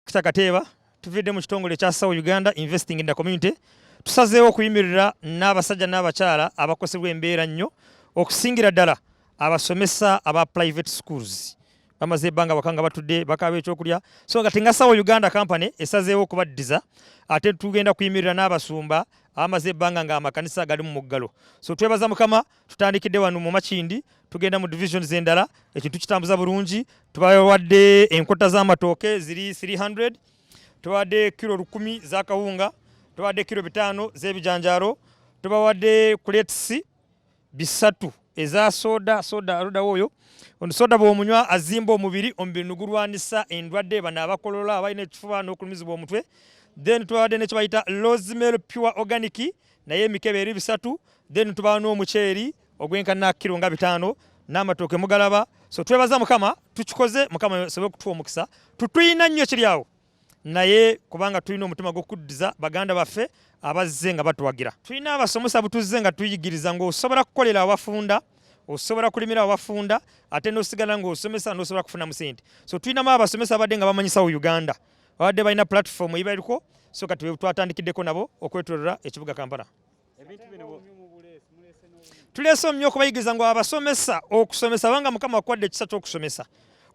Kita Kateeba tuvidde mu kitongole ekya Sawa Uganda Investing in the Community tusazeewo okuyimirira n'abasajja n'abakyala abakosebwa embeera nnyo okusingira ddala abasomesa aba private schools bamaze ebbanga waka nga batudde bakaaba ekyokulya so nga tinga Sawa Uganda company esazeewo okubaddiza ate tugenda kuyimirira n'abasumba abamaze ebbanga nga amakanisa gali mu muggalo so twebaza mukama tutandikidde wano mu makindi tugenda mu divisions endala ekintu kitambuza bulungi tubawadde enkota z'amatooke ziri 300 tubawadde kiro lukumi za kawunga tubawadde kiro bitaano z'ebijanjaalo tubawadde kuletisi bisatu eza soda soda aludawo oyo ono soda bwomunywa azimba omubiri omubiri nigulwanisa endwadde bano abakolola abalina ekifuba n'okulumizibwa omutwe then tubawadde nekyebayita rosemary pure organic naye emikebe eri bisatu then tubawa n'omuceeri ogwenkana kiro nga bitaano n'amatooke mugalaba so twebaza mukama tukikoze mukama osobe okutuwa omukisa tutuyina nnyo kiri awo naye kubanga tulina omutima gw'okuddiza baganda baffe abazze nga batuwagira tulina abasomesa butuzze nga tuyigiriza ng'osobola kukolera abafunda osobola kulimira abafunda ate n'osigala ng'osomesa n'osobola kufunamu sente so tulinamu abasomesa abadde nga bamanyisawo uganda babadde balina pulatifomu eyibaliko so kati twatandikideko nabo okwetolola ekibuga kampala tuleese omumyu okubayigiriza ngu abasomesa okusomesa banga mukama akuwadde ekisa kyokusomesa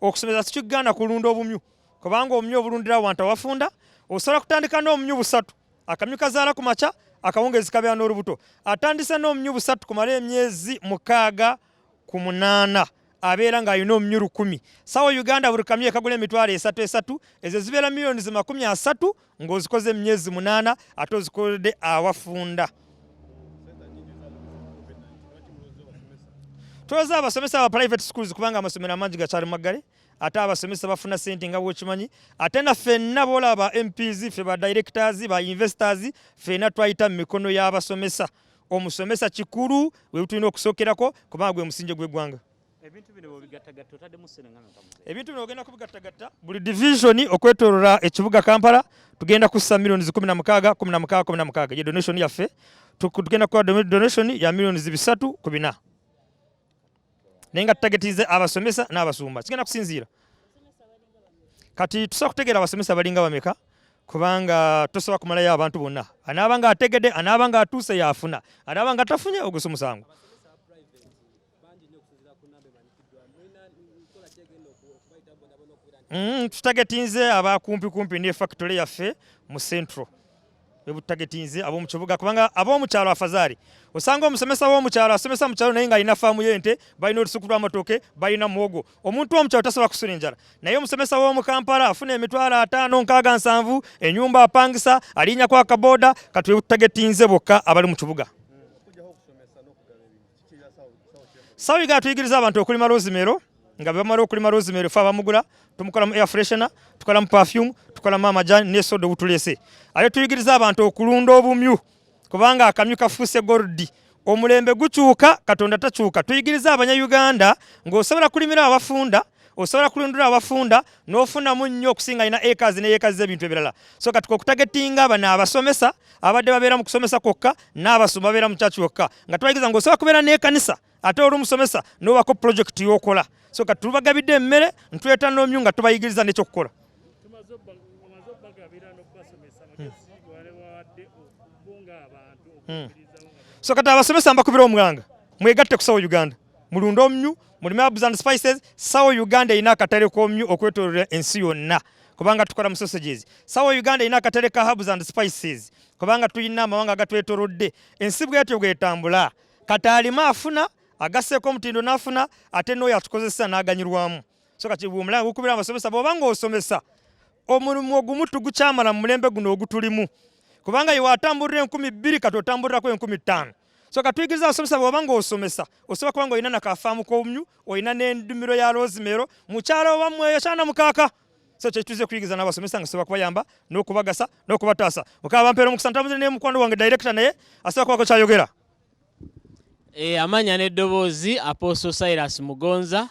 okusomesa sikigaana kulunda obumyu kubanga obumyu obulundira wantu awafunda osobola kutandika n'omumyu busatu akamyu kazaala ku makya akawungeezi kabeera n'olubuto atandise n'omumyu busatu kumala emyezi mukaaga ku munaana abeera ng'alina omunywi lukumi sawa uganda buli kamyu ekagula emitwalo esatu esatu ezo zibeera miliyoni zi makumi asatu ng'ozikoze emyezi munaana ate ozikolede awafunda twoza abasomesa aba private schools kubanga amasomero amangi gakyali maggale ate abasomesa bafuna sente nga bwokimanyi ate na fenna boolaba ba mps fe ba directors ba investors fena twayita mu mikono y'abasomesa omusomesa kikulu webutulina okusokerako kubanga gwe musinje gwegwanga ebintu bino bwebigattagatta otaddemu ssenengano ebintu bino ogenda kubigattagatta buli divisioni okwetolola ekibuga kampala tugenda kussa millioni kumi na mukaaga kumi na mukaaga kumi na mukaaga ye donation yaffe tugenda kukola donation ya millioni bisatu ku bina naye nga tutagetize abasomesa n'abasumba kigenda kusinziira kati tusobola kutegeera abasomesa balinga bameka kubanga tosobola kumalayo abantu bonna anaaba nga ategede anaaba nga atuuse yaafuna anaaba nga tafunye ogusa omusango mm, tutagetinze abakumpikumpi ne factory yaffe mu central webutagetinze ab'omu kibuga kubanga ab'omu kyalo afazari osanga omusomesa w'omu kyalo asomesa mu kyalo naye ng'alina faamu y'ente balina olusuku lw'amatooke balina muwogo omuntu w'omu kyalo tasobola kusula enjala naye omusomesa w'omu kampala afuna emitwalo ataano nkaaga nsanvu enyumba apangisa alinyako akaboda kati webutagetinze bokka abali mu kibuga Sawi ga tuyigiriza abantu okulima rosemary nga bamala okulima rosemary fa bamugula tumukolamu air freshener tukolamu perfume tukolamu amajani ne soda obutulese aye tuyigiriza abantu okulunda obumyu kubanga akamyu kafuuse goldi omulembe gukyuka katonda takyuka tuyigiriza abanyayuganda ng'osobola kulimira abafunda osobola kulundula abafunda n'ofunamu nnyo okusinga alina acres ne acres z'ebintu ebirala so kati kokutagetinga bano abasomesa abadde babeera mu kusomesa kwokka n'abasoma babeera mu kyaki wokka nga tubayigiza nga osobola kubeera n'ekanisa ate oli omusomesa n'obako pulojekiti y'okola so kati tubagabidde emmere ntuleta n'omyu nga tubayigiriza n'ekyokukola hmm. hmm. so kati abasomesa mbakubira omwanga mwegatte ku sawo uganda mulunde omnyu mulime abs and spices sawo uganda erina akatale k'omnyu okwetololera ensi yonna kubanga tukola mu sausages sawo uganda erina akatale ka habs and spices kubanga tulina amawanga agatwetorodde ensi bwetyo bwetambula kati alima afuna agasseeko omutindo n'afuna ate n'oyo atukozesa n'aganyirwamu so kati omulanga gukubira abasomesa bwoba ng'osomesa omulimu ogumu tugukyamala mu mulembe guno ogutulimu kubanga iwe atambulira enkumi bbiri kati otambulirako enkumi ttaano so katuyigiriza abasomesa bwoba ng'osomesa osobola kuba nga olina nakafaamu k'obumyu olina n'endimiro ya loozimeero mukyala owamweyo kyana mukaaka so kyekituze kuyigiza n'abasomesa nga sobola kubayamba n'okubagasa n'okubataasa mukama bampeera omukisa ntambuze ne mukwano wange director naye asobola kubako kyayogera eh, amanya n'eddoboozi apostle silas mugonza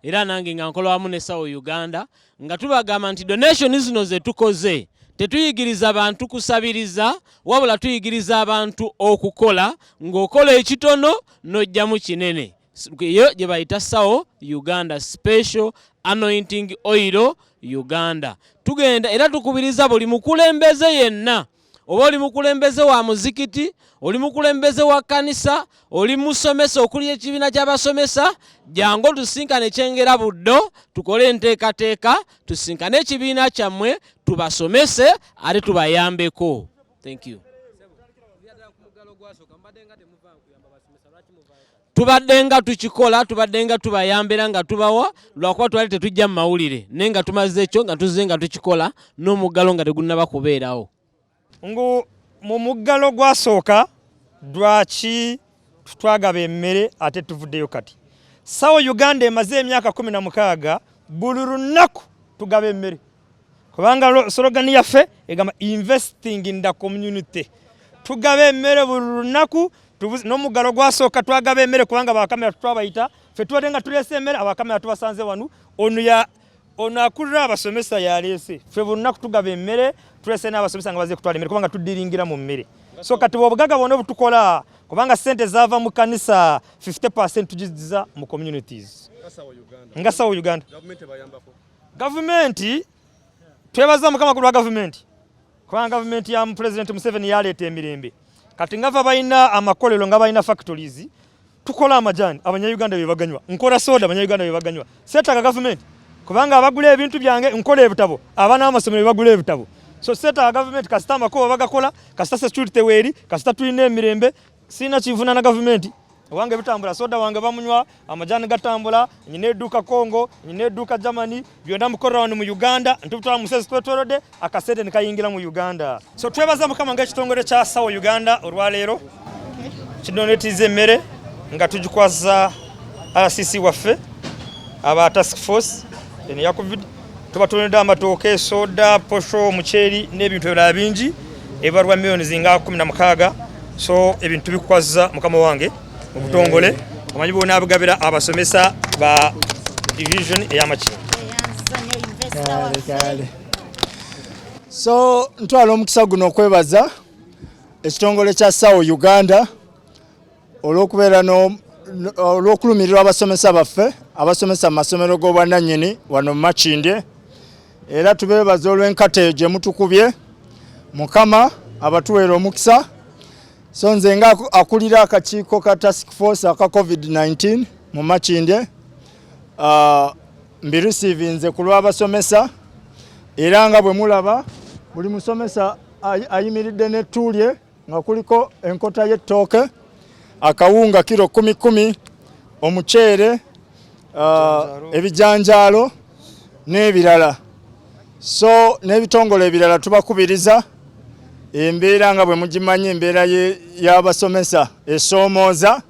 era nange nga nkola wamu ne sawo uganda nga tubagamba nti donation zino zetukoze tetuyigiriza bantu kusabiriza wabula tuyigiriza abantu okukola ng'okola ekitono n'ojjamu kinene eyo gye bayita sawo uganda special anointing oil uganda tugenda era tukubiriza buli mukulembeze yenna oba oli mukulembeze wa muzikiti oli mukulembeze wa kanisa oli musomesa okuli ekibiina ky'abasomesa jangu tusinkane kyengera buddo tukole enteekateeka tusinkane ekibiina kyammwe tubasomese ate tubayambeko Thank you. tubadde nga tukikola tubadde nga tubayambira nga tubawa lwakuba twali tetujja mu mawulire naye nga tumaze ekyo nga tuzze nga tukikola n'omuggalo nga tegunnaba kubeerawo ngu mu muggalo gwasooka dwaki twagaba emmere ate tuvuddeyo kati sawo uganda emaze emyaka kumi na mukaaga buli lunaku tugaba emmere kubanga sologani yaffe egamba investing in the community tugaba emmere buli lunaku n'omuggalo gwasooka twagaba emmere kubanga bakamera twabayita fe tubadde nga tuleese emmere abakamera tubasanze wanu ono ono akulira abasomesa yaleese ffe bonna kutugaba emmere tulese n'abasomesa nga baze kutwala emmere kubanga tuddiringira mu mmere so kati bwobugaga bwona obutukola kubanga sente zava mu kanisa 50 percent tugiziza mu communities nga sawa uganda gavumenti twebaza mukama kulwa gavumenti kubanga gavumenti ya pulezidenti museveni yaleeta emirembe kati ngava balina amakolero nga balina factories tukola amajani abanyayuganda bebaganywa nkola soda abanyayuganda bebaganywa setaga gavumenti kubanga abagula ebintu byange nkola ebitabo abana amasomero bebagula ebitabo so setaga gavumenti kasita amakubo bagakola kasita security weeri kasita tulina emirembe Sina kivuna na gavumenti wange bitambula soda wange bamunywa amajani gatambula nyina eduuka congo nyina eduuka germany byonna mukorera wano mu uganda ntubutwala musezi twetwerode akasente nekayingira mu uganda so twebaza mukama nga ekitongole kya sawo uganda olwaleero kidonetiza emmere nga tugikwaza rcc waffe aba task force eno ya covid tubatonedde amatooke soda posho omuceeri n'ebintu ebirala bingi ebibalwa millioni zinga kumi na mukaaga so ebintu tubikwaza mukama wange mu butongole omanyi bona abigabira abasomesa ba division ey'amakiro so ntwala omukisa guno okwebaza ekitongole kya sawo uganda olw'okubeera olw'okulumirirwa abasomesa baffe abasomesa mu masomero g'obwannannyini wano mu Makindye era tubeebaza olw'enkata eyo gye mutukubye mukama abatuweera omukisa so nze nga akulira akakiiko ka task force aka covid-19 mu Makindye uh, mbirisiivinze ku lw'abasomesa era nga bwe mulaba buli musomesa ayimiridde n'ettuulye nga kuliko enkota y'ettooke akawunga kiro kumi kumi omuceere uh, ebijanjaalo n'ebirala so n'ebitongole ebirala tubakubiriza embeera nga bwe mugimanyi embeera y'abasomesa esoomooza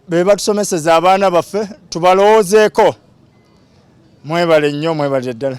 be batusomeseza abaana baffe tubalowoozeeko mwebale nnyo mwebalire ddala